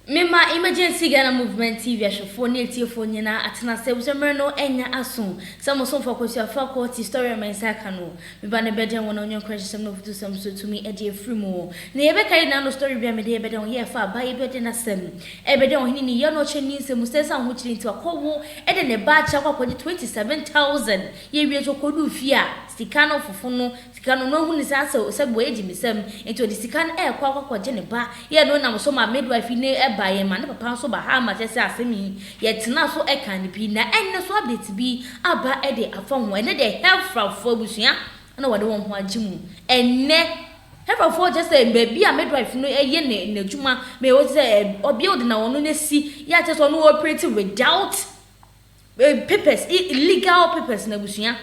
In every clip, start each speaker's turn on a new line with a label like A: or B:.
A: Mema Emergency Ghana Movement TV ahwɛfoɔ ne atiefoɔ nyinaa atena ase efisɛ mmerɛ no anya aso sɛ mo somfoɔ Kwasi Afra Quo te story a me nsa aka no. Me ba no bɛdɛn wo na ɔnyɛ nkranhyɛsɛm ne afutusɛm so tumi de afiri mu. Nea yɛbɛka yi nyinaa no story bi a mede yɛbɛdɛn wo yɛ ɛfa abaa yi bɛdɛn asɛm. Ɛbɛdɛn ɔhene ne yɛ na ɔkyɛ ne nsɛm mu sɛ ɛsan ahokyere nti wakɔ wo de ne ba akyɛ akɔ akɔgye 27,000 yɛwie nso ɔkɔduu fie a sika no fofo no Sika no, na ohu ne saa sɛ sɛ boa agyi ne nsam, enti ɔde sika no ɛɛkɔ akɔ akɔgye ne ba. Yɛ no nam so ma midwife yi ne ɛba yɛn ma ne papa nso ba ha ma kyɛ sɛ asɛm yi yɛ tenaa so ɛkaa ne pii na ɛnnɛ so update bi aba ɛde afa ho ɛnnɛ deɛ Hɛfrafo abusua na wɔde wɔn ho agye mu ɛnnɛ. Hɛfrafo kyɛ sɛ baabi a midwife no ɛyɛ ne n'adwuma ma ɛwɔ sɛ ɔbea de na wɔn no asi yɛ a kyɛ sɛ ɔno operate without papers, legal papers na abusua.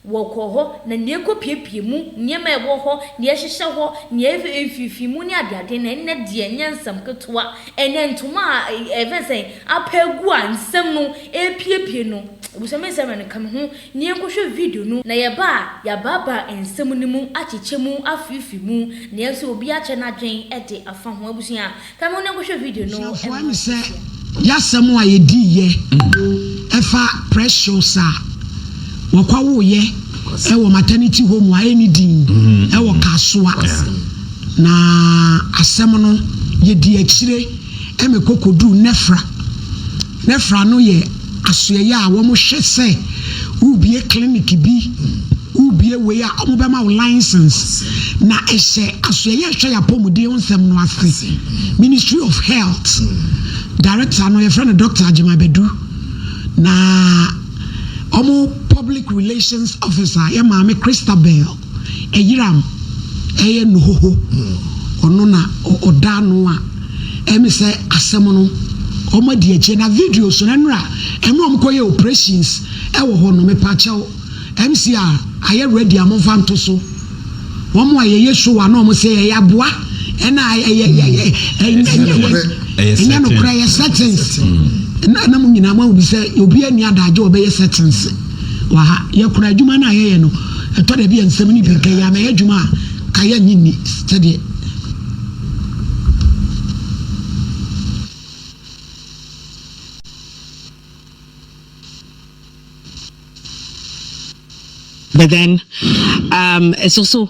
A: Wɔkɔ hɔ, na nea ɛkɔpiapia mu, nneɛma a ɛwɔ hɔ, nea ɛhyehyɛ hɔ, nea ɛyɛ mfimfini mu ne adeade no, ɛnnɛ deɛ ɛnyɛ nsɛm ketewa. Ɛnnɛ ntoma a ɛyɛ sɛ apa agu a nsɛm no repiapia no, abusua me nsɛm no ka me ho na yɛnkɔhwɛ video no. Na yɛba a, yɛabaabaa nsɛm no mu, akyekyɛ mu, afeefee mu, nanso obiara akyɛ n'adwene de afa ho. Abusua, Kyerɛwfo M. Sɛ
B: yasɛm a yedii yɛ ɛfa Precious a wɔkɔ woo yɛ wɔ maternity home a ɛnni din ɛwɔ Kasoa na asɛm no yedii akyire ɛmɛ kɔ kɔduu Nɛfra. Referral no yɛ asoɛeɛ a wɔhwɛ sɛ wobue clinic bi, wobue wei a wɔbɛma wo license na ɛhyɛ asoɛeɛ a ɛhwɛ yɛn apɔmuden ho nsɛm no ase. Ministry of health director no yɛfrɛ no Doctor Agyema Badu na wɔn public relations officer yɛ maame Christabel. Ɛyeram ɛyɛ nohoho ɔno na ɔda ano a ɛmi sɛ asɛm no ɔmo adi akyire na videos no ɛnora ɛmɛ ɔmo kɔ yɛ operations ɛwɔ hɔ no mepaakyɛw ɛmsi a ayɛ ready a monfa nto so ɔmo a yɛyɛ show a na ɔmo sɛ ɛyɛ aboa ɛna ɛyɛ ɛyɛ ɛnyɛ nokora ɛyɛ settings na na mo nyinaa mo ahu bi sɛ obi ani adagye ɔbɛyɛ settings. Wɔ ha, yɛkora adwuma no a yɛyɛ no. Ɛtɔ da bi a nsɛm no bi nka yɛn anaa yɛn adwuma a ayɛ nnye nni sɛdeɛ. But
C: then, um, ɛsɛ so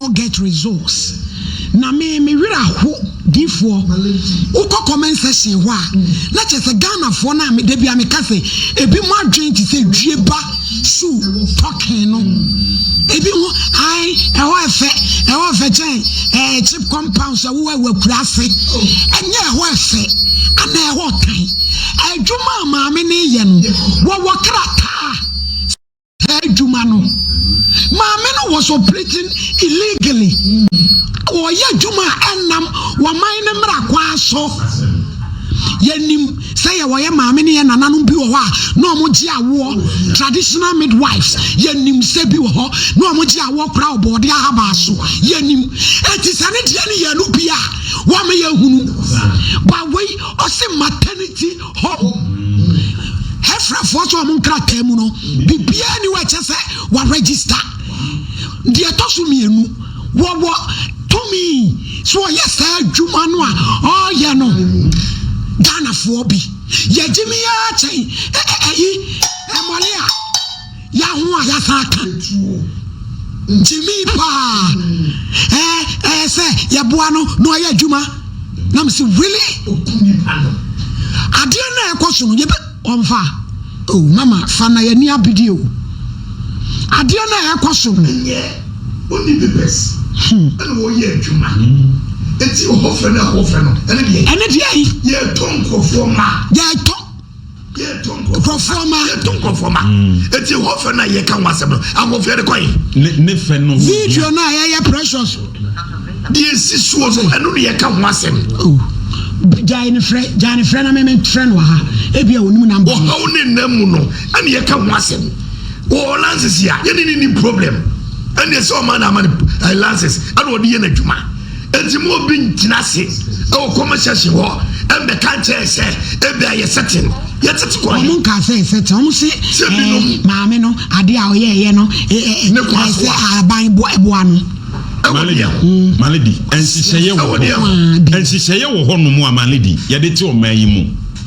C: no get
B: results na me me werɛ aho difoɔ wokɔ comment section hɔ a na kyerɛ sɛ Ghanafoɔ no a me da bi a meka sɛ ebi mo adwene te sɛ dwie ba su pɔkee no ebi ho ae ɛhɔ ɛfɛ ɛhɔ ɛfɛ kyɛn ɛɛ chip compound sɛ wowɔ ɛwɔ akura ase ɛnyɛ ɛhɔ ɛfɛ ana ɛhɔ tan adwuma a maame no yɛ no wɔwɔ krataa adwuma no maame no was operating illegally wɔyɛ adwuma a ɛnam wɔman no mmara kwan so yɛnim sɛ yɛ wɔyɛ maame ne yɛ nananom bi wɔ hɔ a na wɔn gye awoɔ traditional midwives yɛnim sɛ bi wɔ hɔ na wɔn gye awoɔ kora ɔbɔɔde ahabaa so yɛnim eti sɛ ne deɛ ne yɛn no bi a wɔn yɛ hunu bawei ɔsi maternity Hɔ. Hɛfrɛfoɔ nso wɔn nkrataa mu no, biribiara ni wɔ ɛkyɛ sɛ wɔarɛgyista. Deɛ ɛtɔ so mmienu, wɔwɔ tumi so wɔyɛ saa adwuma no a ɔreyɛ no Ghanafoɔ bi. Yɛgye me ara kyɛn ɛyi mmɔle a. Yɛ ho a yɛasan aka gyimii paa ɛɛ ɛɛ sɛ yɛboa no na ɔyɛ adwuma na me se really adeɛ no a ɛkɔ so no yɛbɛ ɔmfa o oh, mama fa na yɛni abedie o adeɛ no a ɛkɔ so no
D: ɔni bebɛs hmm. ɛna ɔyɛ adwuma ɛti ɔhɔfɛ no ɛhɔfɛ no ɛne deɛ ɛne deɛ yɛtɔ nkurɔfoɔ ma yɛtɔ
B: nkurɔfoɔ ma yɛto nkurɔfoɔ ma eti hɔ
D: fɛ no a yɛka ho asɛm no ahoɔfɛ de kɔe ne fɛ no
E: video no a yɛyɛ
B: precious deɛ
D: ɛsi soɔ no ɛno ne yɛka ho asɛm
B: gyae ne frɛ gyae ne frɛ na meme frɛ no aha ebi a ɔnim nam ɔhaw ne nna mu no
D: ɛne yɛka ho asɛm wɔ lances a yɛne ne ni problem ɛne ɛsɛ ɔma na ama no lances ɛna ɔde yɛ no adwuma Enti ma obi ngyina ase wɔ comment section hɔ mbɛka nkyerɛ yɛn sɛ ebia yɛ setting yɛtsetse kɔ he. Wɔn nkaa sɛ ɛsɛte. Wɔn
B: se Sɛ ɛɛ binom. maame no adeɛ a ɔyɛɛyɛ no e ɛ ɛ Ne kwan ɛɛ so
D: sɛ a. aban boa ɛboa
B: no. Ɛwɔ Malady, deɛ ho.
E: Malady, nhyehyɛeɛ wɔ Ɛwɔ deɛ hɔ. ho. Ɛwɔ deɛ ho. Nhyehyɛeɛ wɔ hɔnom a Malady yɛde te ɔman yi mu.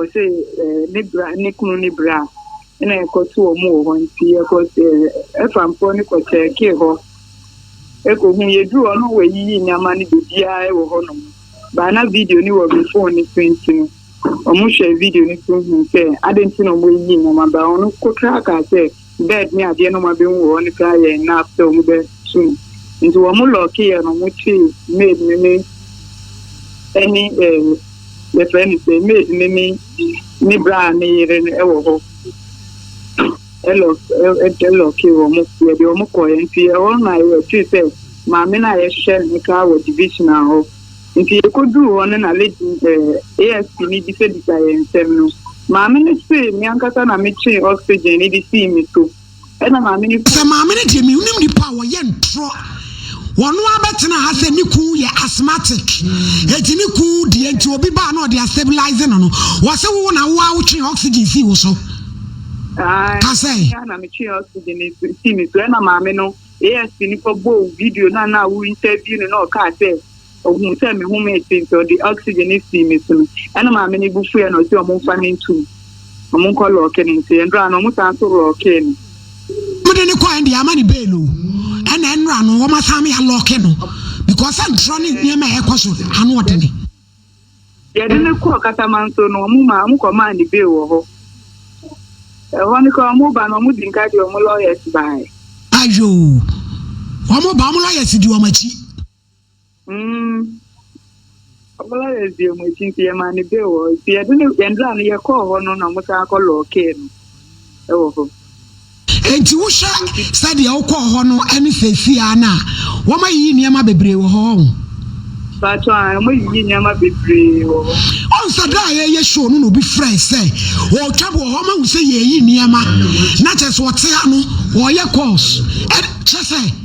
F: Ɔse ne bra ne kunu ne bra na ɛkɔ to ɔmo wɔ hɔ nti yɛkɔ ɛfa mpoɔ no kɔ kyɛɛkee hɔ ɛkɔ hu yɛduru hɔ no wɔayiyi nneɛma no bebiaa ɛwɔ hɔ nom baa na video no wɔ me phone no so nti no ɔmo hwɛɛ video no so hu sɛ adɛn nti na ɔmo ayiyi nneɛma baa ɔno kotraa kaa sɛ bed ne adeɛ na ɔmo abɛhu wɔ hɔ no koraa yɛɛ enough sɛ ɔmo bɛ tu no nti wɔn mo lock yɛ no ɔmo twee maid no ne ɛne eh yɛfrɛ no sɛ maid no ne ne braa ne yere no ɛwɔ hɔ ɛlock ɛlock wɔn mo yɛde wɔn mo kɔɛ nti ɛhɔ na yɛtee sɛ maame no a yɛhwɛ no koraa wɔ division a hɔ. Nti yɛkɔduu hɔ no na lady eh, ASP no bisabisa yɛn nsɛm no, maame no se me ankasa na metwee oxygen no de sii me so, ɛna maame no. Sɛ maame no deɛ mennim
B: nipa a wɔyɛ ntorɔ, wɔno ara bɛtena ha sɛ ne kuu yɛ asthmatic, enti ne kuu deɛ nti obi baa na ɔde astabilize no no, wɔse wo na wo ara wotwee oxygen sii wo so. Ae, Ka sɛ. me
F: ara na metwee oxygen no si- sii me so, ɛna maame no ASP no kɔbɔɔ video no a na wo interview no na ɔkaa sɛ Ohun sɛ me ho meete nti ɔde oxygen no sii me so no ɛna maame no bo fuiɛ na ɔse ɔmo nfa no ntu me ɔmo nkɔ lɔɔke no nti ɛnora no ɔmo san so lɔɔkee me. Ɔmo de no
B: kɔɛ no deɛ ama no bail o ɛna ɛnora no ɔmo asan me alɔɔke no because sɛ ntorɔ ne nneɛma a ɛkɔ so ano ɔdene.
F: Yɛde no kɔɔ Katamanso no ɔmo maa ɔmo kɔ maa no bail wɔ hɔ ɛhɔ no koraa ɔmo ba no ɔmo di nka deɛ ɔmo lawyers baɛ. Ayoo
B: ɔmo ba ɔmo lawyers di ɔmo akyi. Mm.
F: Ɔbɔla yɛ di ɔmo akyi nti yɛ maa ne bee wɔ hɔ. Nti yɛde ne yɛn dra no yɛ kɔɔ hɔ no na ɔmo san akɔ lɔɔkee no ɛwɔ hɔ. Nti
B: wohwɛ sɛ deɛ wokɔɔ hɔ no ɛne seesei ara no a wɔn ayiyi nneɛma bebree wɔ hɔ ɔho. Paatwa
F: a ɔmo ayiyi nneɛma bebree wɔ hɔ. Ɔn sɛ da a
B: yɛyɛ show no na obi frɛɛ sɛ ɔɔtwa wɔ hɔ ɔmo ahu sɛ yɛɛyi nneɛma na kyerɛ sɛ ɔte ha no ɔɔyɛ calls ɛ kyerɛ sɛ.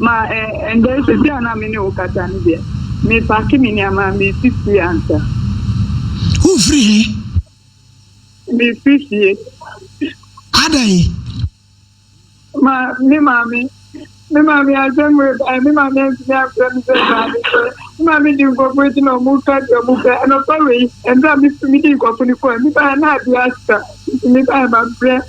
B: Ma
F: ɛ ɛndɛ sisi a na me ne wo kasa no deɛ me pake me nneɛma me si fie ansa.
B: Wo firi he?
F: Me firi fie.
B: Adɛn?
F: Ma me maame me maame asɛm wei ba ɛ me maame antumi amfrɛ me sɛ baa me sɛ me maame di nkurɔfo akyi na ɔmo ka deɛ ɔmo pɛ ɛnɔpa wei ɛmberɛ a me firi me di nkurɔfo ne fon me baa na adeɛ asa nti me baa ma brɛ.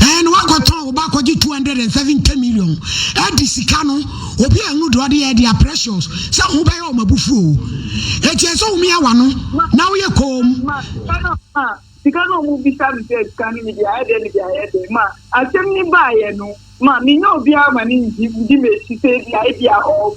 F: Ɛn wakɔtɔn
B: wo ba akɔgye 270 million ɛde sika no obi a ɛhunu deɛ ɔde yɛ ɛde a precious sɛ ho bɛyɛ ɔma bufuo o ɛtiɛ sɛ wo mia wano na woyɛ koom
F: sika no ɔmo bisa me sɛ sika no mede ayɛ dɛ mede ayɛ dɛ ma asɛm ne baayɛ no ma menya obiara ma ne ngye medi m'akyi sɛ bia ebia ɔɔ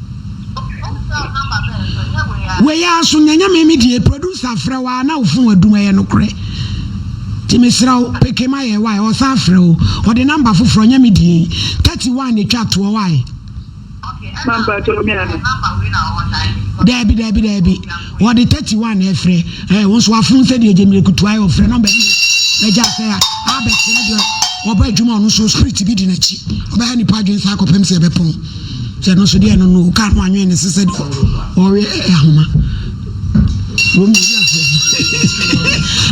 B: Wei ara so nya nyame me die producer afrɛ wa na ofon adum ɛyɛ nokorɛ ti mesrɛ wo peke ma yɛ wae ɔsan afrɛ o ɔde namba foforɔ nya me die 31 na twa toɔ wae
F: daabi daabi
B: daabi ɔde 31 na ɛfrɛ ɛɛ wɔn nso afon sɛ deɛ gyemire kutu ayɛ ɔfrɛ namba bi ɛgya sɛ abɛkyerɛ deɛ ɔbɔ adwuma ɔno nso spirit bi di n'akyi ɔbɛha nipa adwene saa akɔpem sɛ ɛbɛpɔn Sɛ no so deɛ no no kaa no anwene ne se sɛ deɛ ɔwe ahoma.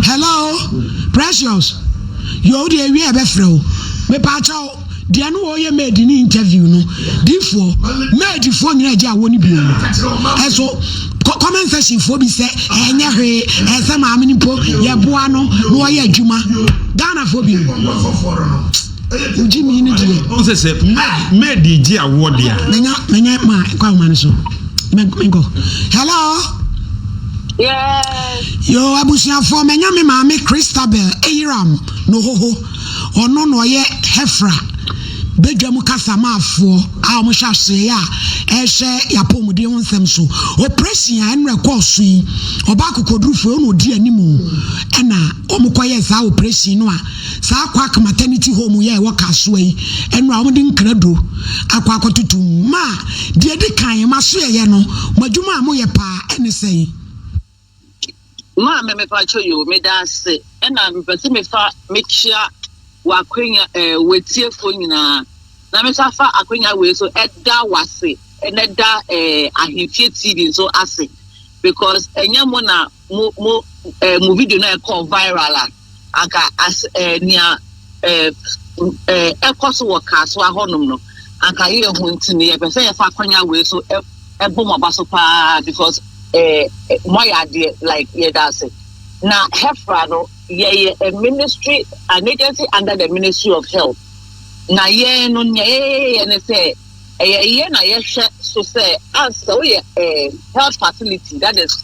B: Hello, Precious. Yɛ wo deɛ wie a ɛbɛfrɛ wo. Mepa akyɛ wo. Deɛ no wɔyɛ maid ne interview no. Difoɔ, maidfoɔ nyina agye awɔ no bio. Ɛso, comment section foɔ bi sɛ ɛnyɛ hwee ɛsɛ maame no mpo yɛboa no na ɔyɛ adwuma. Ghanafoɔ bio. Wogye me no deɛ. Ɔn sɛ sɛ
E: maid gye awoɔ deɛ a. Menya menya ma
B: kɔ ahoma no so. Menkɔ. Hello. Yes.
F: Yo abusuafoɔ
B: menya me maame Christabel Eyiram no hoho. Ɔno na ɔyɛ Hefra bedwa mu kasamaafoɔ a wɔhyɛ aseɛ a ɛhyɛ yɛapɔmuden ho nsɛm so. Operation a ɛnora kɔɔ so yi ɔbaa kokodurufoɔ ɔna ɔdi anim ɛna wɔkɔyɛ saa operation no a Saa Kwak Maternity Home yi a ɛwɔ Kasoa yi, ɛno a wɔde nkraduro akɔ akɔtoto mu ma a, deɛ ɛdi kan, mo asoɛeɛ no, mo adwuma a moyɛ pa ara, ɛne sɛn?
G: Maame, mepakyɛ yoo, meda ase, ɛna mepɛ sɛ mefa mekyia w'akwanya ɛɛ w'atiefoɔ nyinaa, na mesa fa akwanya wei so ɛda w'ase, ɛna ɛda ɛɛ Ahemfie TV nso ase because ɛnyɛ mo na. mo mo eh, mo video na ɛkɔ viral a anka as eh, nea eh, eh, ɛkɔ so wɔ kaa so ahɔnom no anka yɛ ho nti no yɛpɛ sɛ yɛfa akwanya wei so ɛ- ɛbɔ mo aba so paa because eh, eh, moayɛ adeɛ like yɛda ase na hefra no yɛyɛ a ministry an agency under the ministry of health na yɛn no nea yɛyɛyɛ ne sɛ ɛyɛ yɛ na yɛhwɛ so sɛ ansa woyɛ eh, health facility that is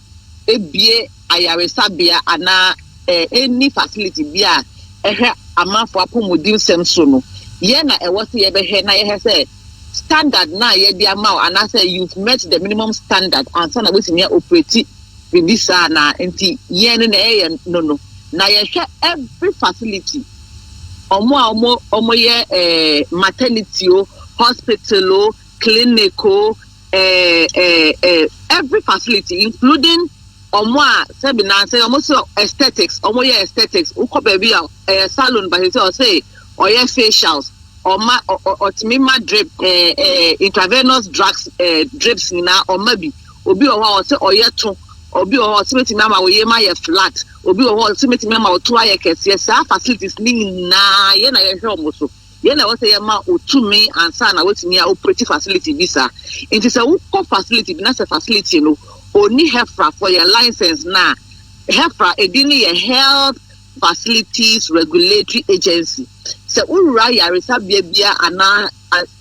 G: abue ayaresabea anaa enni facility bi a ɛhwɛ amanfo apɔmudensɛm so no, yɛn na ɛwɔ sɛ yɛbɛhwɛ na yɛhɛ sɛ standard no a yɛde ama wo anaasɛ you've met the minimum standard ansa na woatumi a operate biribi saa anaa. Nti yɛn no na yɛyɛ no no na yɛhwɛ every facility, wɔn a wɔyɛ maternity o, hospital o, clinic o, eh, eh, eh, every facility including ɔmo a sɛbi nansɛ ɔmo sɛ aesthetics ɔmo yɛ aesthetics wokɔ baabi a ɛyɛ salon but sɛ ɔsɛ ɔyɛ facials ɔma ɔtumi ma drip ɛɛ ɛɛ intravenous drugs ɛɛ drips nyinaa ɔma bi obi wɔ hɔ a ɔsɛ ɔyɛ to obi wɔ hɔ a ɔsɛ betumi ama ɔyɛ mu ayɛ flat obi wɔ hɔ a ɔsɛ betumi ama ɔto ayɛ kɛseɛ saa facilities ne nyinaa yɛ na yɛhwɛ ɔmo so. Yɛn na ɛwɔ sɛ yɛma wo tumi ansa na woatumi a operate facility bi saa. Nti sɛ wokɔ facility bi na sɛ facility no ɔnni HEFRA for yɛ license no a, HEFRA edin no yɛ Health Facilities Regulatory Agency. Sɛ wowura yaresabea bi a anaa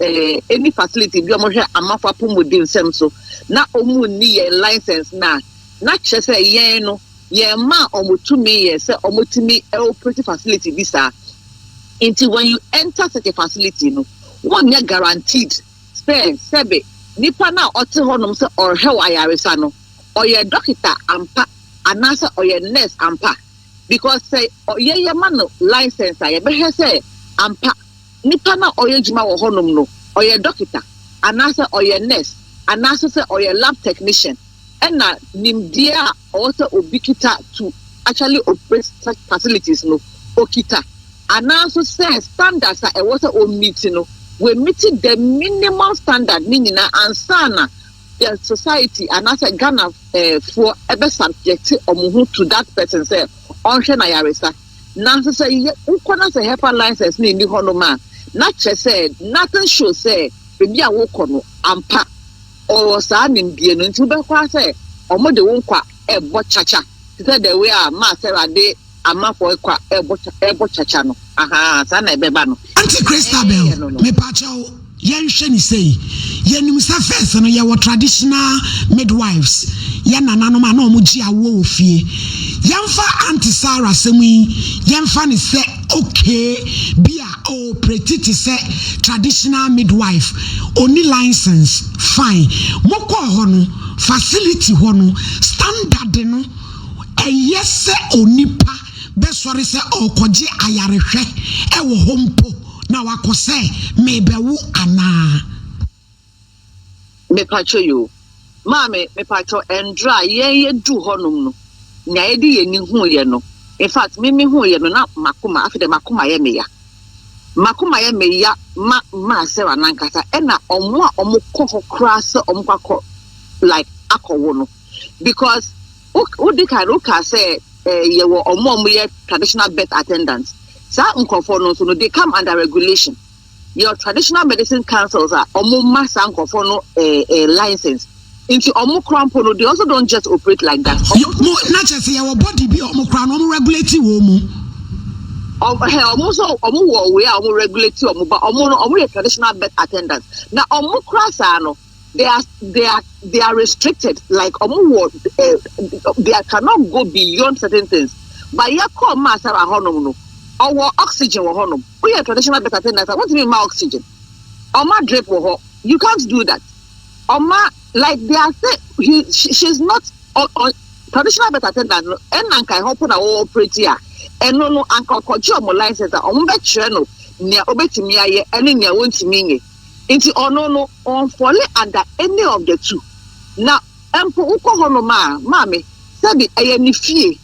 G: eh, any facility bi a wɔhwɛ amafo apɔmuden nsɛm so na wɔnni yɛn license no a, na kyerɛ sɛ yɛn no Yɛmaa wɔn tumi yɛ sɛ wɔtumi operate facility bi saa. Nti when you enter such a facility no, wonyɛ guaranteed sɛ sɛbe nipa no a ɔte hɔ nom sɛ ɔrehɛ wo ayaresa no, ɔyɛ dɔketa ampa anaasɛ ɔyɛ nurse ampa. Because sɛ ɔyɛ yɛma no license a, yɛbɛhwɛ sɛ ampa nipa no a ɔyɛ adwuma wɔ hɔ nom no, ɔyɛ dɔketa anaasɛ ɔyɛ nurse anaasɛ sɛ ɔyɛ lab technician ɛna nimdeɛ a ɔwɔ sɛ obi kita to actually operate such facilities no okita anaa nso sɛ standards a ɛwɔ sɛ ommiti no wɔmmiti the minimal standard ne nyinaa ansa na the society anaasɛ Ghana eh, foɔ ɛbɛ subject wɔn ho to that person sɛ ɔnhwɛ na yaresa nanso sɛ wokɔ na sɛ hepa license no nni hɔ nom a na kyerɛ sɛ nothing show sɛ baabi a wokɔ no ampa Ɔwɔ saa nimdeɛ no nti, wobɛkɔ ara sɛ wɔde wo nkwa rebɔ kyakya te sɛ the way a ma Sarah de Amafɔe kwa rebɔ kya rebɔ kyakya no. Ahaa, saa na ɛbɛba no. Auntie Christabel, Ɛɛyɛ no
B: no. mepakyɛw, yɛnhwɛ no sei, yɛnim sɛ first no yɛwɔ traditional midwives, yɛn nananom a na wɔgye awoɔ wɔ fie. Yɛmfa Auntie Sarah asɛm yi, yɛmfa no sɛ. Okay, bi a o operate te sɛ traditional midwife, onni license, fine. Mo kɔɔ hɔ no, facility hɔ no standard no, ɛyɛ sɛ onipa bɛsɔre sɛ ɔrekɔgye ayarehwɛ wɔ hɔ mpo na wakɔ sɛ merebɛwo anaa?
G: Mepatwɔ yoo. Maame mepatwɔ ɛndrɛ a yɛn yɛduu hɔ nom no nea yɛde yɛn ani huu yɛ no infact me me huu yɛ no na makoma afei deɛ makoma yɛ me ya makoma yɛ me ya ma maa Sarah nankasa ɛna ɔmo a ɔmo kɔ hɔ koraa sɛ ɔmo kɔ akɔ like akɔ wo no because wo de kan wo kaa sɛ eh, yɛ wɔ ɔmo a ɔmo yɛ traditional birth attendants saa nkorɔfoɔ no nso no they come under regulation. Yɛwɔ traditional medicine councils a ɔmo ma saa nkorɔfoɔ no eh, eh, license. Nti ɔmo kora mpo no, they also don't just operate like that. Ɔmo Yo, mo, na kyerɛ sɛ
B: yɛwɔ body bi a ɔmo kora no, ɔmo regulate wɔ mu. ɔm- hɛ, ɔmo nso
G: ɔmo wɔ wei a ɔmo regulate ɔmo ba. Ɔmo no, ɔmo yɛ traditional birth attendants. Na ɔmo kora saa no, They are they are they are restricted like ɔmo wɔ eh, they are cannot go beyond certain things but yɛ kɔɔ maa sara hɔnom no ɔwɔ oxygen wɔ hɔnom woyɛ traditional doctor ten nasa wontumi mma oxygen ɔma drip wɔ hɔ you can't do that ɔma like they are say he she, she is not on, on traditional birth attendant no ɛna nka ɛhɔ po na wɔwɔ operate a ɛno no anka ɔkɔgye ɔmo license a ɔmo bɛkyerɛ no nea obetumi ayɛ ɛne nea wɔntumi nyɛ. Nti ɔno no ɔnfɔle ada any of the two na mpo wokɔ hɔnom a maame sɛbi ɛyɛ ne fie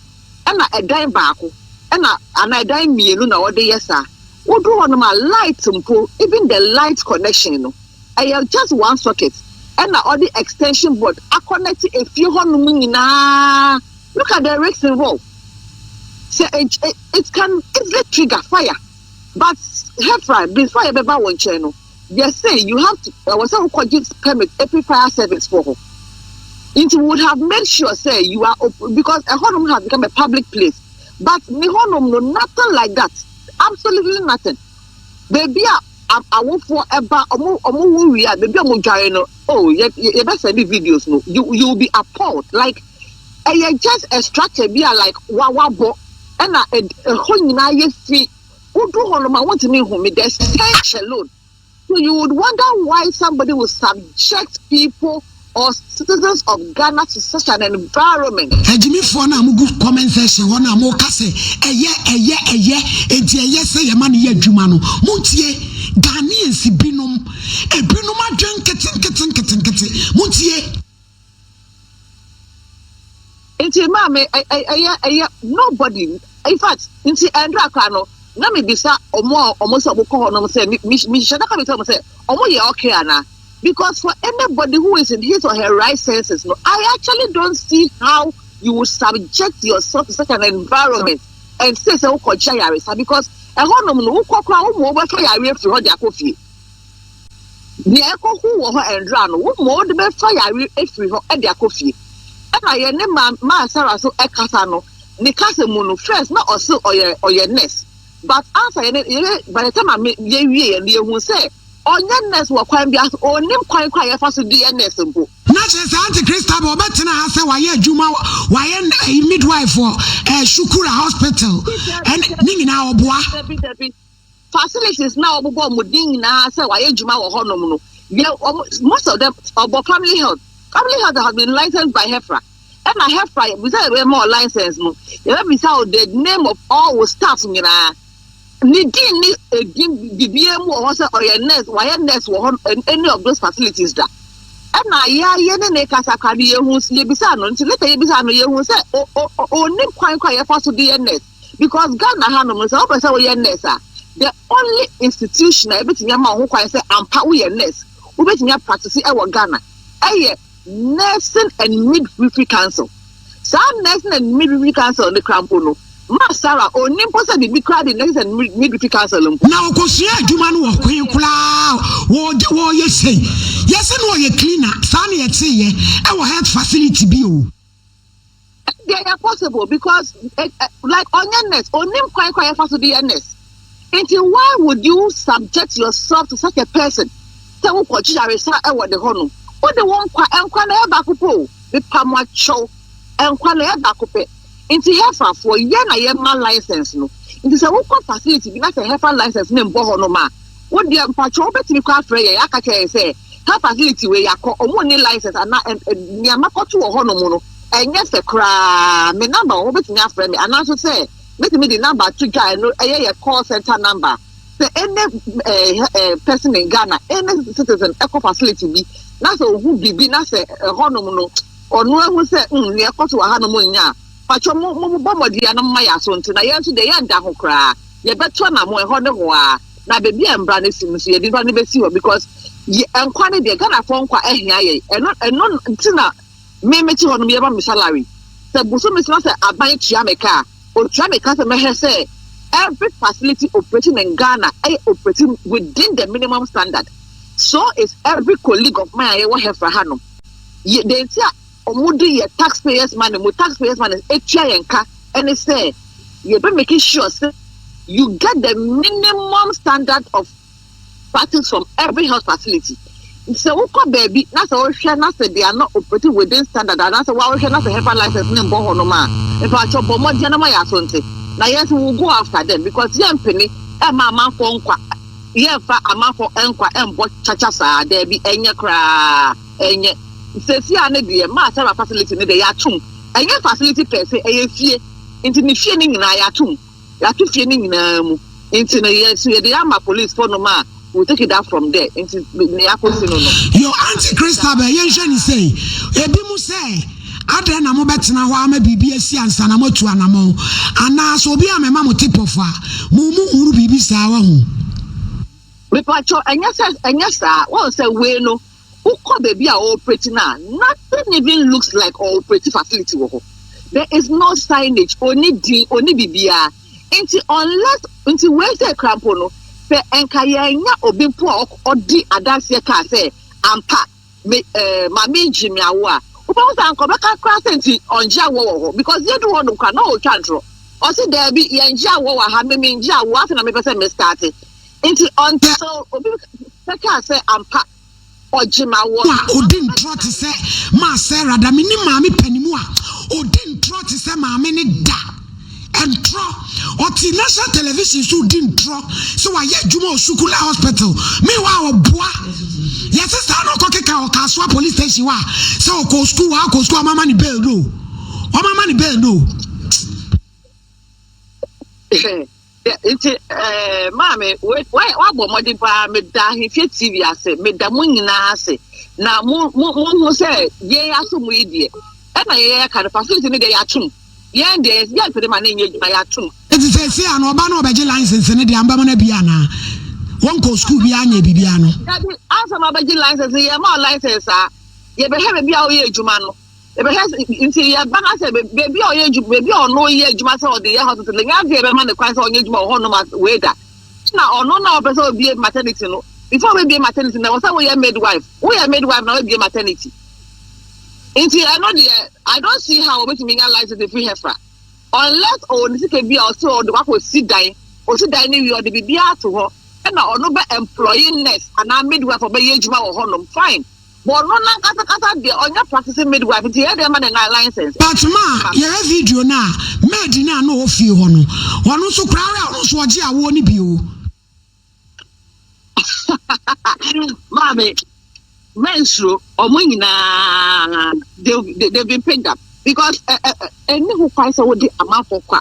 G: ɛna ɛdan baako ɛna anaa ɛdan mmienu na ɔde yɛ saa woduru hɔnom a light mpo even the light connection no ɛyɛ just one socket ɛna ɔde extension board akɔnɛte efie hɔnom nyinaa look at the risk involved sɛ it can easily trigger fire. But Hephrine, before yɛ bɛ ba wo nkyɛn no, yɛ se you have to, ɛwɔ sɛ wo kɔ gye permit efi fire service foɔ hɔ. Nti we would have made sure sɛ you are op, because ɛhɔ nom has become a public place. But ne hɔ nom no, nothing like that, absolutely nothing. Baabi a awofoɔ ɛba, ɔmo, ɔmo wo wie a, baabi a ɔmo dware no, oh, yɛ, yɛ bɛ sɛnde videos no, you, you will be appalled, like, ɛyɛ just a structure bi a like wa wabɔ ɛna ɛhɔ nyinaa yɛ fi wodu hɔ nom a wontumi nhu me the stench alone so you would wonder why somebody would subject people or citizens of Ghana to such an environment. Agyimifoɔ no a mo
B: gu comment section hɔ no a mo ka sɛ ɛyɛ ɛyɛ ɛyɛ enti ɛyɛ sɛ yɛma no yɛ adwuma no mo ntie Ghanaians binom ebinom adwen nkete nkete nkete nkete mo ntie. Nti maa
G: me ɛ ɛ ɛyɛ ɛyɛ nobody infact nti ɛndra koraa no na me bisa ɔmo a ɔmo sɛ ɔmo kɔ hɔ nom sɛ me me me hyɛ da ka bisa ɔmo sɛ ɔmo yɛ okay anaa because for anybody who is in his or her right senses no I actually don't see how you would subject yourself to such an environment and say sɛ wokɔ gya yaresa because ɛhɔ nom no wokɔ koraa wo mo wobɛfa yareɛ firi hɔ de akɔ fie. Nea ɛkɔ ho wɔ hɔ ɛndra no, wo mɔ wode bɛfa yare afiri hɔ de akɔ fie. Ɛna yɛ ne ma maa Sarah so ɛkasa no, ne kasa mu no first na ɔse ɔyɛ ɔyɛ nurse but ansa yɛ ne yɛ by the time a me yɛ wie yɛ no yɛ hu sɛ ɔnyɛ nurse wɔ kwan biara so, ɔnnim kwan koraa yɛfa so de yɛ nurse mpo. Na kyerɛ sɛ Auntie
B: Christabel ɔbɛtena ha sɛ wayɛ adwuma wayɛ ɛyi midwife wɔ ɛɛ Shukura hospital ɛne ne nyinaa ɔboa. Dabi dabi. facilities
G: na wɔbobɔ wɔn din nyinaa sɛ wɔayɛ adwuma wɔ hɔnom no yɛ wɔn most of them ɔbɔ family health family health has been licensed by HEFRA ɛna HEFRA bisa yɛ bɛma wɔ license no yɛbɛ bisa wɔ the name of all wɔ staff nyinaa ne din ne edin bibia mu wɔ hɔ sɛ ɔyɛ nurse wɔayɛ nurse wɔ hɔ any of those facilities da ɛna yɛayɛ ne ne kasa kora no yɛhu yɛbisa no nti leta yɛbisa no yɛhu sɛ ɔnim kwan kora yɛfa so de yɛ nurse because Ghana ha nom no sɛ wopɛ sɛ woyɛ nurse a the only institution a ebetumi ama wo ho kwan sɛ ampa woyɛ nurse wobetumi apratisi ɛwɔ Ghana ɛyɛ Nursing and Midwifery Council saa Nursing and Midwifery Council ne kora mpo no ma Sarah onni mpo sɛ biribi koraa de Nursing and Midwifery Council mpo. Na ɔkɔsua adwuma
B: no wɔ kwen koraa wɔde wɔyɛ sei yɛse na ɔyɛ cleaner saa na yɛteeɛ ɛwɔ health facility bi o.
G: Ɛdeɛ ɛyɛ possible because eh, eh, like ɔnyɛ nurse onim kwan kwan yɛfa so de yɛ nurse nti why would you subject yourself to such a person sɛ wokɔ gye yaresa ɛwɔ de hɔ no wode wo nkwa nkwa na ɛyɛ baako pɛ o mepa mo akyɛw nkwa na ɛyɛ baako pɛ nti hefafoɔ yɛ na yɛma license no nti sɛ wokɔ facility bi na sɛ hefa license no mbɔ hɔ no ma Wo deɛ mpakyɛw wobɛtumi koraa afrɛ yɛn aka kyerɛ yɛn sɛ car facility wei yɛakɔ wɔn nni license anaa ɛn ɛn nea makɔto wɔ hɔnom no ɛnyɛ fɛ koraa me number wɔ hɔ wobɛtumi afrɛ me anaa nso sɛ mɛtumi de number ato dwa ɛno ɛyɛ yɛ call center number sɛ any eh, eh, person in Ghana any citizen ɛkɔ facility bi na sɛ ohu biribi na sɛ ɛhɔnom no ɔno ahu sɛ mm nea ɛkɔto wɔ hanom nyɛ a pakyɛw mo mo mo bɔ mmɔden a na mo ma yɛ aso nti na yɛn nso deɛ yɛn da ho koraa. Yɛbɛto anamɔ ɛhɔ ne hɔ aa na baabi a mbra no si no nso yɛde mbra no bɛsi hɔ because yɛ nkwa no deɛ Ghanafoɔ nkwa ɛhia yɛn ɛno ɛno nti na me mete hɔ nom yɛma me salary sɛ bosome sena sɛ aban tua me ka a ɔtua me ka sɛ mɛhɛ sɛ every facility operating in Ghana ɛyɛ operating within the minimum standard so is every colleague of mine a yɛwɔ hɛfra ha nom yɛ deɛ nti a Ɔmo de yɛ tax payers money mo tax payers money etua yɛn ka ɛne sɛ yɛ bɛ make sure sɛ you get the minimum standard of practice from every health facility sɛ wokɔ baabi na sɛ wohwɛ na sɛ they are not operating within standard anaasɛ woahwɛ na sɛ hefa license ne mbɔ hɔ nom a mpakyɛ bɔ mmɔden na ma yɛ aso nte na yɛn nso will go after them because yɛn mpene ɛma amanfoɔ nkwa yɛn fa amanfoɔ nkwa ɛmbɔ kyakya saa daabi ɛnyɛ koraa. Ɛnyɛ. Seesei ara no deɛ maa Sarah facility no deɛ yɛato mu. Ɛnyɛ facility pɛɛ sɛ, ɛyɛ fie. Nti ne fie no nyinaa yɛato mu. Yɛato fie no nyinaa mu. Nti no yɛ so yɛde ama police foɔ nom a will take it up from there. Nti nea akɔsi no no. Your auntie
B: Christabel, yɛnhwɛ no sei, ebinom sɛ adɛn na mobɛtena hɔ ara ma biribi asi ansa na moatu anammɔn? Anaa sɛ obi ammɛma mo tip-off a, mo mu hunu biribi saa, wahu?
G: Mepatwɔ, ɛnyɛ sɛ, ɛnyɛ saa. Woahu sɛ wei no, Wokɔ baabi a wɔreoperate no a, nothing even looks like ɔreoperate facility wɔ hɔ. There is no signage, ɔnni din, ɔnni biribiara. Nti unless, nti wei sɛ kura mpo no, sɛ nka yɛannya obi mpo a ɔdi adanseɛ kaa sɛ ampa me eh, maame yi gyee me awoɔ a, wobɛhu sɛ anka ɔbɛka koraa sɛ nti ɔngye awoɔ wɔ hɔ because yɛdu hɔ nom koraa na ɔretwa ntorɔ. Ɔse daabi, yɛngye awoɔ wɔ ha, me mengye awoɔ, afei na mepɛ sɛ me starte. Nti until obi bɛkaa sɛ ampa ɔgye ma wɔ. A odi ntorɔ
B: te sɛ maa Sarah da menim maame panimu a odi ntorɔ te sɛ maame ne da ntorɔ ɔte national television so odi ntorɔ sɛ wayɛ adwuma wɔ sukula hospital meanwhile ɔboa yɛse saa na ɔkɔkeka wɔ kasoa police station hɔ a sɛ ɔkɔ sukuu wɔ akɔ sukuu ɔmama ne bɛɛ no ɔmama ne bɛɛ no
G: Nti eh, maame wabɔ mmɔden paa meda ahemfie tv ase meda mo nyinaa ase na mo mo mo ho sɛ yɛn aso mo yi deɛ ɛna yɛyɛ ka no facility no deɛ yɛatom yɛn deɛ yɛsi yɛn pere ma ne nyɛ adwuma yɛatom. Eti sɛ esi ano
B: ɔba no ɔbɛgye license ne deɛ ambɛma no bi anaa wɔn kɔ sukuu bi anyɛ biribi ano. Dabi asɛm abɛgye
G: license yɛ ma license a yɛbɛhwɛ baabi a ɔyɛ adwuma no. Yɛbɛhwɛ sɛ nti yɛ ba no asɛ baabi a ɔyɛ adwuma baabi a ɔno yɛ adwuma sɛ ɔde yɛ hospital nya adeɛ bɛma ne kwan sɛ ɔnyɛ adwuma wɔ hɔnom wei da na ɔno na ɔpɛ sɛ obie maternity no before obie maternity na wɔsɛ woyɛ midwife woyɛ midwife na wabie maternity nti ɛno deɛ I don't see how obetumi nya license efiri hɛfra unless ɔwɔ ne sika bi a ɔsɛ ɔde wakɔ si dan ɔsi dan ne wie ɔde biribi ato hɔ ɛna ɔno bɛ employee nurse anaa midwife ɔbɛyɛ adwuma wɔ hɔnom fine. Wɔno nankasa kasa deɛ ɔnyɛ practicing midwife nti yɛyɛ dɛn ma no nya license? But ma yɛhwɛ
B: video no a maid no a na ɔwɔ fie hɔ no ɔno nso koraa rɛ ɔno nso ɔgye awoɔ no bi o.
G: Maame, mɛnsuro, ɔmo nyinaa they, they, they've been picked up because ɛni ho kwan sɛ wode amanfoɔ kɔ a.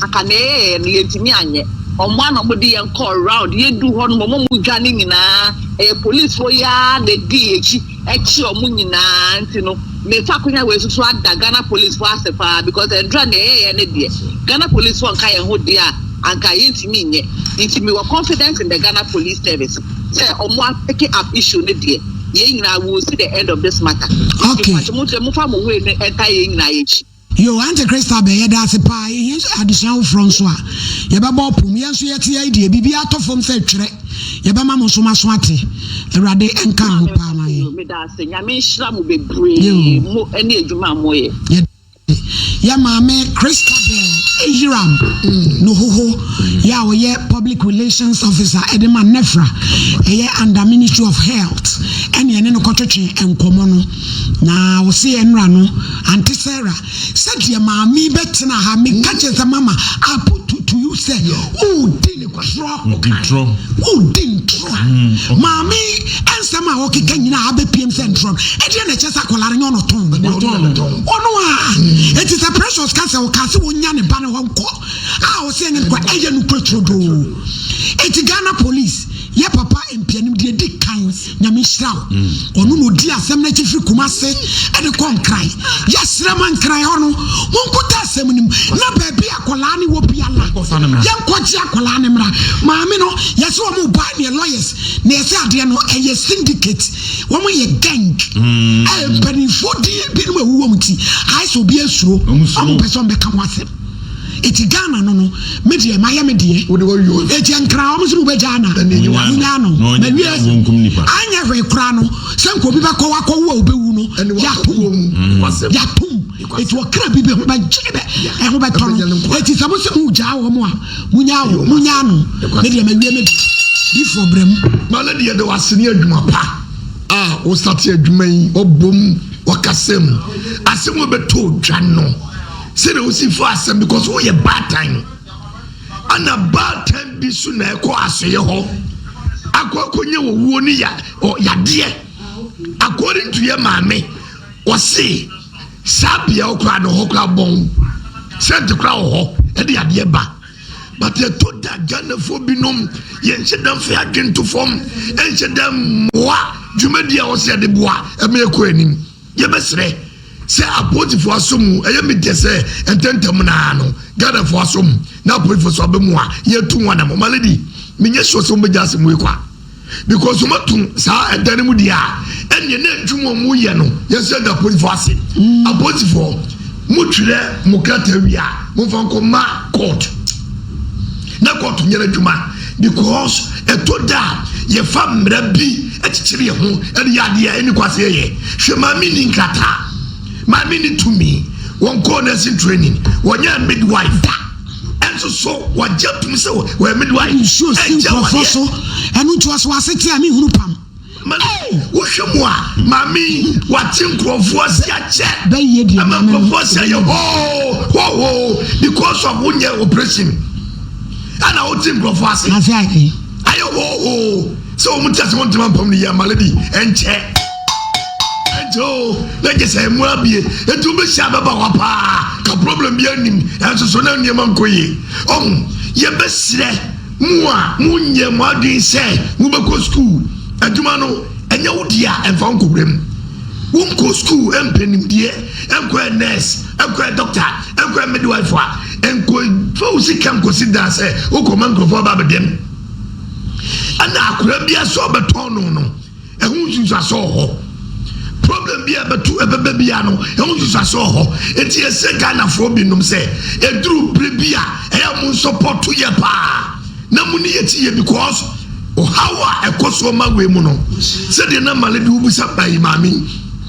G: Anka nea yɛyɛeɛ no, yɛntumi anyɛ. Wɔboa na wɔde yɛn kɔɔ round. Yɛduu hɔ no, wɔn a wɔdwane nyinaa, ɛyɛ polisfoɔ yi ara na ɛdii yɛn akyi kyee wɔn nyinaa. Nti no, me Fakonya wei so so ada Ghana polisfoɔ ase pa ara because ɛduru a nea yɛyɛeɛ no deɛ, Ghana polisfoɔ nka yɛn ho deɛ a, anka yɛntumi nyɛ. Nti mewɔ confidence in the Ghana Police Service sɛ wɔn a picking up issue no deɛ, yɛn nyinaa we will see the end of this matter. Nti mpakyɛ modeɛ momfa mo wei no ntae yɛn nyinaa yɛn
B: akyi. Yoo ante Christa bɛ yɛda ase paa yɛhia nso adesua foforɔ nso a yɛbɛbɔ ɔpom yɛn nso yɛte ha yi deɛ biribiara tɔ fam sɛ twerɛ yɛbɛma mo nso mo aso ate awurade nka ho paa ma yɛn Meda ase. Nyame nhyira mo bebree. Yoo Mo ne adwuma a moyɛ. yɛda ase yɛn maame Christabel Ahiram Nohoho yɛ a ɔyɛ public relations officer ɛde ma NEFRA ɛyɛ under ministry of health ɛne yɛne no kɔtwetwe nkɔmmɔ no Na ɔse yɛn mmra no ante Sarah sɛ deɛ maame yi bɛtena ha me ka kyerɛ sɛ mama I put to to you sɛ wodi ntorɔ wodi ntorɔ maame yi nsɛm a ɔkeka nyinaa abɛpiem sɛ ntorɔ no ɛdeɛ na ɛkyɛ sɛ akwadaa no nyɛ ɔno tɔn ɔno a ɛti sɛ Precious ka sɛ ɔka sɛ ɔnya ne ba no hɔ nkɔ a ɔse ɛnyɛ no kwa ɛyɛ no kura turodoo ɛti Ghana police yɛ papa mpianim deɛ di kan Nyame nhyira wo ɔno na ɔdi asɛm no akyi firi Kumase de kɔ Nkran yɛserɛ ma Nkran hɔ no mo nkuta asɛm no mu na baabi a akwadaa no wɔ biara yɛnkɔ gye akwadaa no mmra maame no yɛse wɔn ɔbaa no yɛ lawyers na yɛse adeɛ no ɛyɛ syndicate wɔn yɛ gang mm. eh, mpanimfoɔ din binom awuwɔ mu ti ayɛ sɛ obi asuro wɔn pɛ sɛ wɔn bɛka ho asɛm Eti Ghana no no me deɛ mayɛ me deɛ eti nkran wɔn se mobɛgyaa no a monyaa no mawie anyɛ hwee koraa no sɛ nka obi bɛkɔ wakɔ wo a obewu no yato mu yato mu eti ɔkra bi bɛ ho bɛgye bɛ ɛho bɛtɔ no eti sɛ mo se mo gyaa wɔn a monyaa wɔn monyaa no me deɛ mawie me deɛ difoɔ brɛ mu. Mane deɛ de wase
D: ne adwuma pa a wosate adwuma yi ɔbom wakasam ase mu bɛtɔ dwa no. Sɛ na wosi fo asɛm because woyɛ baatan no ana baatan bi so na ɛkɔ asoyɛ hɔ akɔ akɔnya wɔwuo ne ya ɔ yadeɛ according to yɛ maame ɔse saa bea ɔkora no hɔ kora bɔn sɛnte kora wɔ hɔ ɛde yadeɛ ba but ɛtɔ da ghanafoɔ binom yɛnhyɛ da mfa adwene to fam ɛnhyɛ da mmoa dwumadi a ɔsɛ ɛde boa ɛma ɛkɔ anim Yɛbɛsrɛ sɛ apolisifo asɔ mu, ɛyɛ me dɛ sɛ ntɛmntɛm no ara no Ghanafo asɔ mu na apolisifo nso aba mu a yɛatu ho anamɔ. Ma lady, menyɛ sure sɛ wɔbɛgya asɛm wei kwa because wɔn ato saa ɛdan no mu deɛ a ɛneɛ na adwuma wɔn yɛ no yɛn nso yɛda apolisifo ase. Apolisifo mo twerɛ mo krataa wie a momfa nkɔ ma court. na kɔɔto nyɛ n'adwuma because ɛtɔ da a yɛfa mmara bi kyekyere yɛn ho de yɛ adeɛ a ɛni kwase yɛyɛ hwɛ maame ni nkrataa maame ni tumi wɔn kɔɔ nursing training wɔnyɛ midwife da ɛnso so wɔgye tom sɛ wɔyɛ midwife nsuo si nkurɔfoɔ
B: so ɛno nti ɔso ase te a mehunu pam
D: Wohwɛ mu a, maame yi wate nkurɔfoɔ ase akyɛ. Ɛma
B: nkurɔfoɔ ase ayɛ
D: hoo hoo because of wonyɛ operation. Ɛna wote nkurɔfoɔ ase. Ase ayɛ. Ayɛ hoo hoo sɛ wɔn ti ase wɔn ntoma mpam ne yɛ amale bi ɛnkyɛ. Ɛnkyɛ o na gye sɛ ɛmu abie etu bɛhyɛ abɛba hɔ paa ka problem bi anim ɛnso so na nneɛma nkɔ yie. Ɔho yɛbɛsrɛ. Mo a monyɛ mo adwene sɛ mobɛkɔ sukuu, adwuma no nyɛ wo dea a, mfa wo nkɔwura mu. Wonkɔɔ sukuu mpɛ nimdeɛ, nkɔyɛ nurse, nkɔyɛ doctor, nkɔyɛ midwife a, nkɔmfa wo sika nkɔsi dan sɛ wokɔma nkurɔfoɔ aba abɛdɛm. Ɛna akwadaa biara sɛ ɔbɛtɔn no no, Ɛho nsunsuaso wɔ hɔ. Problem bi a ɛbɛto ɛbɛba biara no, ɛho nsunsuaso wɔ hɔ. Enti yɛsrɛ Ghanafoɔ binom sɛ, ɛduru berɛ bi a, ɛyɛ a monsɔpɔto yɛ paa na mo ne yɛkyi yɛ because ɔhaw a ɛkɔ soɔ ma wei mu no, sɛdeɛ na Male de wobisa ɛyi maame yi,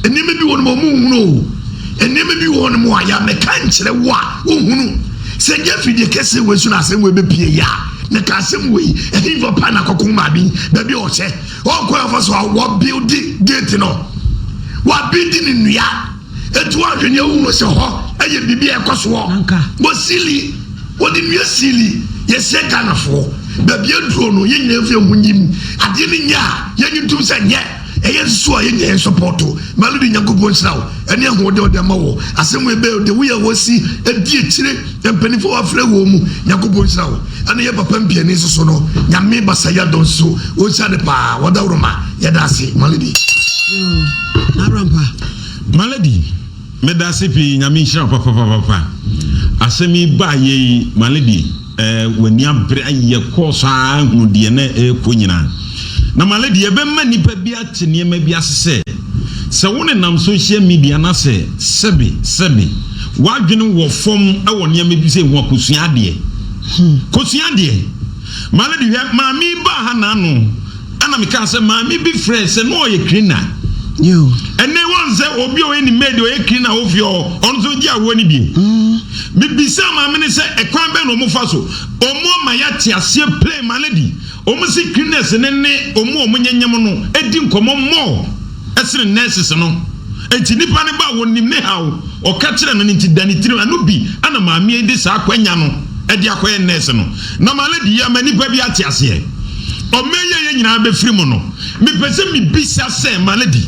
D: nneɛma bi wɔ hɔnom a wɔnhunu o, nneɛma bi wɔ hɔnom a yɛ mɛka nkyerɛ wo a wonhunu. Sɛ ɛnyɛ firi deɛ kɛseɛ wei so na asɛm wei bɛpue yɛ a, na ka asɛm wei, ɛhefa paa na akɔko maame yi, baabi a ɔhyɛ. Wɔn kwan afa so a wɔabildi geeti no, wɔabildi no nnua, enti woanhwɛ nea wohu sɛ hɔ yɛ biribi a ɛkɔ soɔ. Wɔsili, wɔde nnua sili, yɛsrɛ Ghanafoɔ, baabi aduro no yɛn nyinaa mfa yɛn ho nyi mu, adeɛ no nyɛ a yɛnye ntom sɛ nyɛ, ɛyɛ nso a yɛn nyinaa yɛn sɔpɔɔto. Maludi Nyankopɔn nhyira wo ɛne ahoɔden a ɔde ama wɔ asɛm wei bɛyɛ wo dɛ, woyɛ a wɔsi adi akyire. Yɛ mpanyinfo a wafrɛ wɔn mu Nyankopɔn nhyira wo ɛne yɛ papa mpiani soso no Nyame basayɛ dɔ nso wo nhyira de paa wɔ dawuro ma yɛda ase Malady. Yoo
B: naro ampa
E: Malady meda ase pii Nyame nhyira wo papapapapa asɛm yi baa yɛ yi Malady eh wani abere ayi yɛ kɔɔ so aa hunu deɛ na ɛɛkɔ nyinaa na Malady yɛbɛma nipa bi ate nneɛma bi ase sɛ Sɛ wonenam sohyia midia na sɛ sɛbe sɛbe w'adwene wɔ fam wɔ nneɛma bi sei ho a, kosua adeɛ. Kosua adeɛ. Malady, hwɛ, maame yi baa ha n'ano ɛna mekaa sɛ maame bi frɛɛ sɛ na ɔyɛ cleaner.
B: Ɛnɛ wɔn
E: sɛ obi a ɔyɛ ne maid ɔyɛ cleaner wɔ fie hɔ, ɔno nso gye awoɔ no bi. Mebisaa maame no sɛ ɛkwan bɛn na wɔfa so, wɔn ama yɛate aseɛ plain, Malady. Wɔsi Cleaners no ne wɔn a wɔnyɛ nyɛm no di nkɔmmɔ more sene nurses no. Enti nipa no ba a wɔnim ne haw, ɔka kyerɛ no no nti da ne tirim. Ɛno bi na maame yi de saa akwanya no de akɔyɛ nurse no. Na malady yi ama nipa bi ate aseɛ ɔman yi a yɛn nyinaa bɛfiri mu no. Mepɛ sɛ mebisa sɛ malady,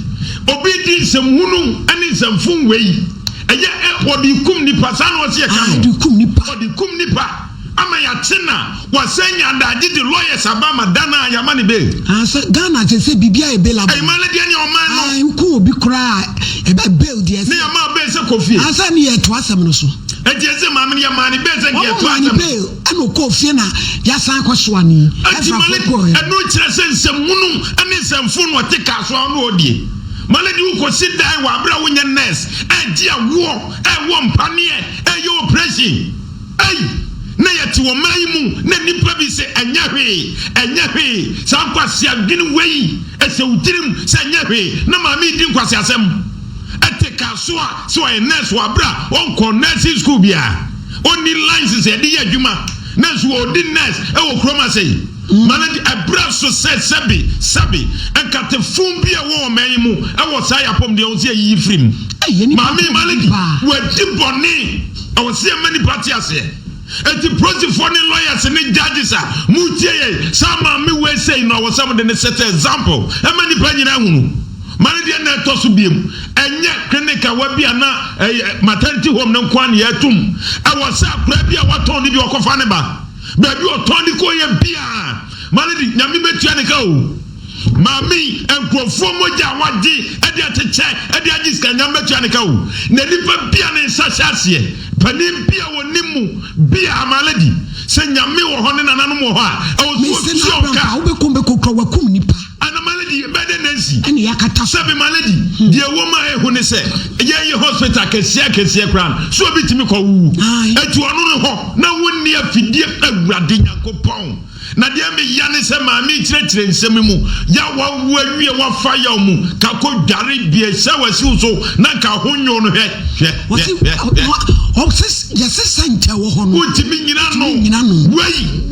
E: obi di nsɛm hunu ne nsɛm fon wei ɛyɛ ɛ, wɔde kum nipa saa na wɔse yɛka no? Ɔde kum nipa. Ama yɛakye na wɔasan nya adagye de lawyers aba ama da no a yɛama no bail. Ah sɛ Ghana a kyerɛ
B: sɛ biribiara yɛ bailable. Ɛyɛ man no deɛ ne ɔman
E: no. Ah woku obi koraa a
B: ɛbɛ bail deɛ ɛsɛ. Ne yɛma bail sɛ kɔ
E: fie. Ah sɛ ɛne yɛto asɛm
B: no so. Ɛnti ɛsɛ maame no
E: yɛmaa no bail sɛ nka yɛto asɛm no. Wɔmaa no bail ɛna ɔkɔɔ
B: fie na yɛasan akɔ soa no yi. Ɛnti Malik
E: ɛno kyerɛ sɛ nsɛmhunu ɛne nsɛmfo na ɔte car so a ɔne ɔredie. Malik de wokɔsi dan wɔ aberɛ a wonyɛ nurse ɛregye awoɔ, ɛrewɔ mpaneɛ, ɛreyɛ operation. Ei! Na yɛte ɔman yi mu na nnipa bi se ɛnyɛ hwee, ɛnyɛ hwee, saa nkwasea dwene wei ɛhyɛ wo tirim sɛ ɛnyɛ hwee, na maame yi di nkwaseasɛm ɛte car so a sɛ ɔyɛ nurse wɔ abere a ɔnkɔ nursing school biara, ɔnni license a yɛde yɛ adwuma, nanso ɔredi nurse ɛwɔ kurom ase. Ma no de abira so sɛ sɛbe, sɛbe, nkate fun bi a ɛwɔ ɔman yi mu wɔ saa yɛ apɔmuden a ɛwɔ sɛ yɛyiyi firi mu. Maame yi, Malady, wadi bɔne. Ɛwɔ sɛ yɛma nnipa te aseɛ. Enti polisifoɔ ne lawyers ne judges a moretie yɛn yi, saa maame wei sei no, ɛwɔ sɛ mode no set example ma nnipa nyinaa ahunu. Malady, ɛnna ɛtɔ so biom. Ɛnyɛ clinic a wabie anaa ɛyɛ maternity home no nko ara na yɛatum. Ɛwɔ sɛ akoraa bi a watɔn no bi ɔkɔfa ne ba. Baabi ɔtɔn de kɔeɛ biaa Malady Nyame bɛtua ne ka o Maame yi nkurɔfoɔ mogya a wagye de akyekyɛ de agye sika Nyame bɛtua ne ka o Na nipa bia ne nsa hyɛ aseɛ panin bia wɔnim mu biaa Malady sɛ Nyame wɔ hɔ ne nananom wɔ hɔ a ɛwɔ sɛ ɔtua wɔn ka. Ana malady yɛ bɛ dɛ nansi. Ɛna yakata so. Sɛbi malady deɛ ɛwɔ mu a ehu ne sɛ yɛn yɛ hospital kɛseɛ akɛseɛ koraa no so obi tumi kɔ wuwu ɛtu ɔno no hɔ na wo nni afidie awurade nyankopɔn na deɛ me ya ne sɛ maa me kyerɛkyerɛ nsɛm mu ya wa wu awie wa fa yaw mu ka kɔ dware bie sɛ wa siw so na nka ho nyo no hwɛ hwɛ hwɛ hwɛ hwɛ ɔsis yɛsesa nkyɛ wɔ hɔ no wo tumi nyina no wei.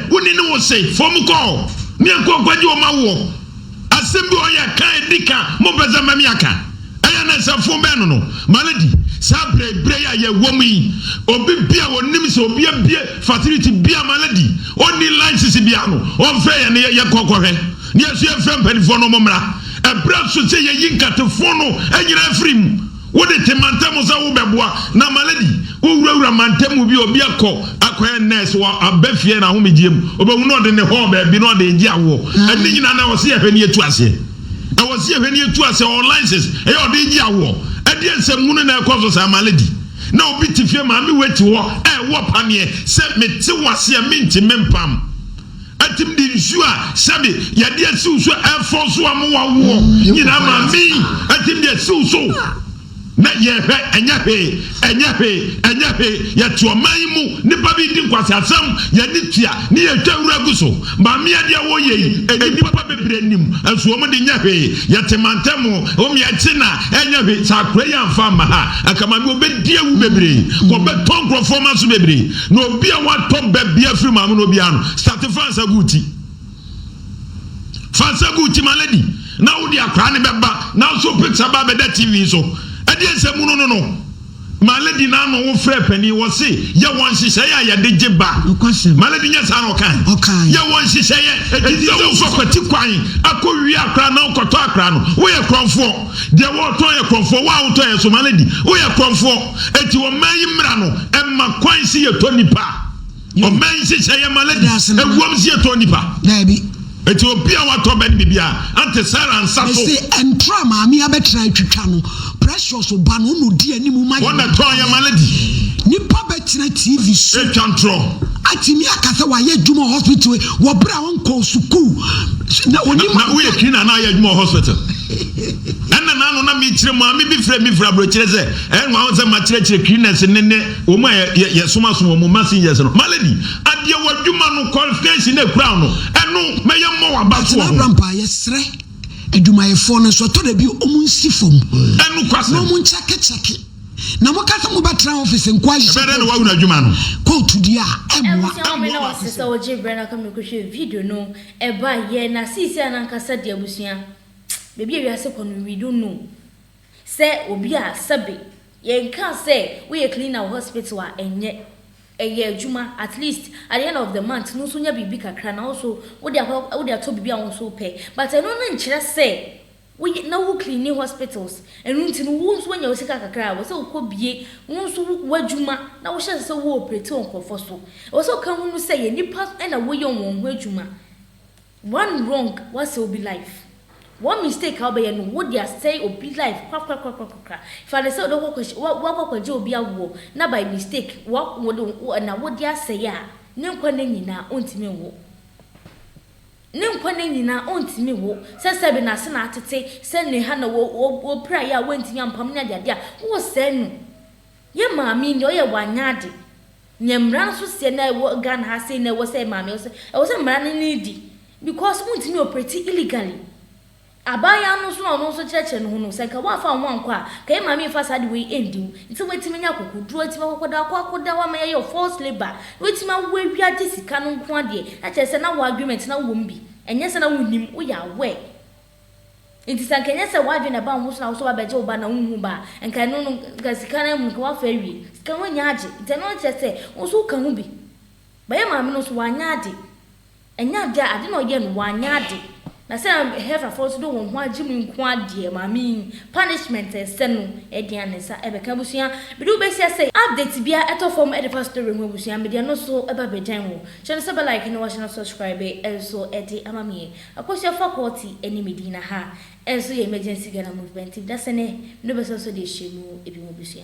E: Wo ne ne wo se fom kɔɔ. Ne ɛkɔ nkwagye wɔ ma woɔ. Asem bi wɔ yɛ ka edi ka mo mpɛ sɛ mɛmi aka. Ɛyɛ na sɛ fom bɛn no no. Ma no di. Saa bere bere yi a yɛ wɔ mu yi obi bia wɔ nim sɛ obi abie facility bia ma no di. Ɔ nni license bia no ɔ nfrɛ yɛn na yɛ kɔ kɔ hwɛ. Ne yɛ nso yɛ nfrɛ mpanifoɔ no ɔmo mmra. Ɛbra nso sɛ yɛ yi nkate fon no nyinaa firi mu. Wode te mantam sɛ wobɛboa na malady wowurawura mantam mu bi obi akɔ akɔyɛ nurse wɔ aba fie na ahomegyeɛ mu obehu na ɔde ne hɔɔ baabi na ɔde regye awoɔ ɛne nyinaa na ɛwɔ sɛ yɛhwɛ ne yɛtu aseɛ ɛwɔ sɛ yɛhwɛ ne yɛtu aseɛ ɔwɔ license ɛyɛ ɔde regye awoɔ ɛdeɛ nsɛm hunu na ɛkɔ so saa malady na obi te fie maame wei te hɔ ɛwɔ paneɛ sɛ mete wo aseɛ mente mempam Atim de nsuo a sɛbe yɛde asiw so ɛfɔ so a mo wawoɔ nyinaa ma me atim de asiw so na yɛhwɛ ɛnyɛ hwee ɛnyɛ hwee ɛnyɛ hwee yɛte ɔman yi mu nipa bi di nkwaseasɛm yɛne tua ne yɛtwa wura gu so maame adeɛ woyɛ yi nnipa bebree nim nso wɔn de nyɛ hwee yɛte mantam wɔn yɛkye na ɛnyɛ hwee saa akora yi amfa amma ha anka maame wɔbɛdi awu bebree wɔbɛtɔ nkurɔfoɔ ma so bebree Na obi a watɔ bɛ bia firi maame no obiara no, sate fa nsa gu ti. Fa nsa gu ti ma lady. Na wode akora ne bɛba. Na nso picture ba bɛda TV nso. Ɛdeɛ nsɛ mu no no no. Ma lady na ano wo frɛ panin wɔ se yɛ wɔn nhyehyɛeɛ a yɛde gye ba. Ma lady nyɛ saa na ɔkae. Yɛ wɔn nhyehyɛeɛ. Ɛti sɛ wofa kwati kwan akɔ wie akora na wokɔtɔ akora no. Woyɛ korɔmfoɔ. Deɛ wɔɔtɔn yɛ korɔmfoɔ, wo a wotɔ yɛ nso ma no adi, woyɛ korɔmfoɔ. Enti ɔman yi mmra no mma kwan se yɛtɔ nnipa. Ɔman yi nhyehyɛɛ yɛ ma ladies, ɛwom se yɛtɔ nnipa. Daabi. Enti obi a
B: watɔ
E: bɛ no biribiara, Aunty
B: Sarah
E: nsa so. Mese
B: ɛntra
E: maame
B: abɛtra
E: atwitwa
B: no,
E: Precious
B: ba no, ɔna ɔdi anim ma yɛn. Ɔna tɔn yɛ ma ladies.
E: Nipa bɛtena
B: TV so. Ɛtwa ntorɔ.
E: Atumi aka
B: sɛ wayɛ adwuma wɔ hospital wɔ berɛ a ɔnkɔɔ sukuu. Na ɔnim. Na woyɛ cleaner na ayɛ
E: adwuma wɔ hospital. Ɛna na ano na mekyerɛ maame bi frɛ me firi aburokyerɛ sɛ ɛyɛ nwa ho sɛ makyerɛkyerɛ cleaners ne ne wɔn a yɛsomaso wɔn ma seniors no. Malady, adeɛ w'adwuma no qualification na ɛkura wo no, ɛno mɛyɛ mmɔ w'aba so wɔ ho. Atena Brampa, yɛsrɛ
B: adwumayɛfoɔ no nso ɛtɔ da bi wɔn nsi fam na wɔn
E: nkyɛkekyɛke
B: na moka sɛ mobɛtra office nko ahyehyɛ ɛbɛdɛ na wahunu adwuma no
E: kɔɔto di a
B: ɛmmoa. Ɛwɔ sɛ wɔn na wɔsɛ sɛ
A: wɔgye berɛ na kɔmɛkɔhwɛ video no. Ɛbae, yɛɛ na seesei a n'ankasa de abusua baabi a wiase kɔ no we don't know sɛ obi a sɛbe yɛnkaa sɛ woyɛ cleaner wɔ hospital a ɛnyɛ ɛyɛ adwuma at least at the end of the month no nso nya biribi kakra na wo nso wode akɔ wode atɔ biribi a wo nso wopɛ but ɛno no nkyerɛ sɛ Woyɛ na wo cleani hospitals, ɛno nti no wo nso woanya wo sika kakra a ɛwɔ sɛ wokɔ bie wo nso w'adwuma na wohyɛ ase sɛ wo operate wɔ nkorɔfoɔ so. Ɛwɔ sɛ woka hunu sɛ yɛ nnipa na woyɛ wɔn ho adwuma. One wrong woasɛe obi life. One mistake a wobɛyɛ no wode asɛe obi life korakorakorakorakora. Fa no sɛ wode wokɔ woakɔ akɔgye obi awoɔ na by mistake wa wode na wode asɛe a ne nkwa nna nyinaa ɔntumi nwo. Ne nkwa nna nyinaa ontumi nwo. Sɛ sɛbe n'ase na atete, sɛ ne ha na wopirae a woantumi ampam ne adeade a, wowɔ sɛɛ no. Yɛ maame yi deɛ ɔyɛ wanyɛ ade. Neɛ mmara nso seɛ na ɛwɔ Ghana ha sei na ɛwɔ sɛ maame, ɛwɔ sɛ mmara no ne di because wontumi operate illegally. Abaayewa no nso a ɔno nso kyerɛkyerɛ ne ho no, sɛ nka woamfa wo ho ankɔ a, nka yɛn maame yi mfa saa ade wei ndi wo. Nti woatumi anya akokoduru, woatumi akɔkɔda hɔ, akɔkɔda hɔ ama yɛayɛ wo forced labour, na woatumi awo awie agye sika no nko ara deɛ, na kyerɛ sɛ na w'agreement na wowɔ mu bi. Ɛnyɛ sɛ na wonnim, woyɛ aware. Nti sɛ nka ɛnyɛ sɛ w'adwene na ɛbaa wo ho so na wo sɛ woabɛgye wo ba na wonhu wo ba a, nka ɛno no, nka sika no ara mu no, nka woafa awie. Sika no woannya agye, nti ɛno ara kyerɛ sɛ wo nso woka ho bi. But yɛn maame no nso, wannya agye. Ɛnyɛ ade a ade na ɔyɛ no wanyɛ ade na sɛ Heverfoɔ nso de wɔn ho agye mu nko ara deɛ maame yi punishment ɛsɛ no ɛdeɛn a ne nsa ɛbɛka abusua mede wo bɛhyia sɛ update biara ɛtɔ fam ɛde fa story ho abusua mede ɛno nso ɛba abɛgyan wo hyɛ no sɛ bɛ like na wahyɛ no subscribe nso ɛde ama me Akosua faculty ɛne Medina ha nso yɛ emergency Ghana movement nti dasɛnɛ mede wo bɛsa nso de ahyɛ mu ebi ho abusua.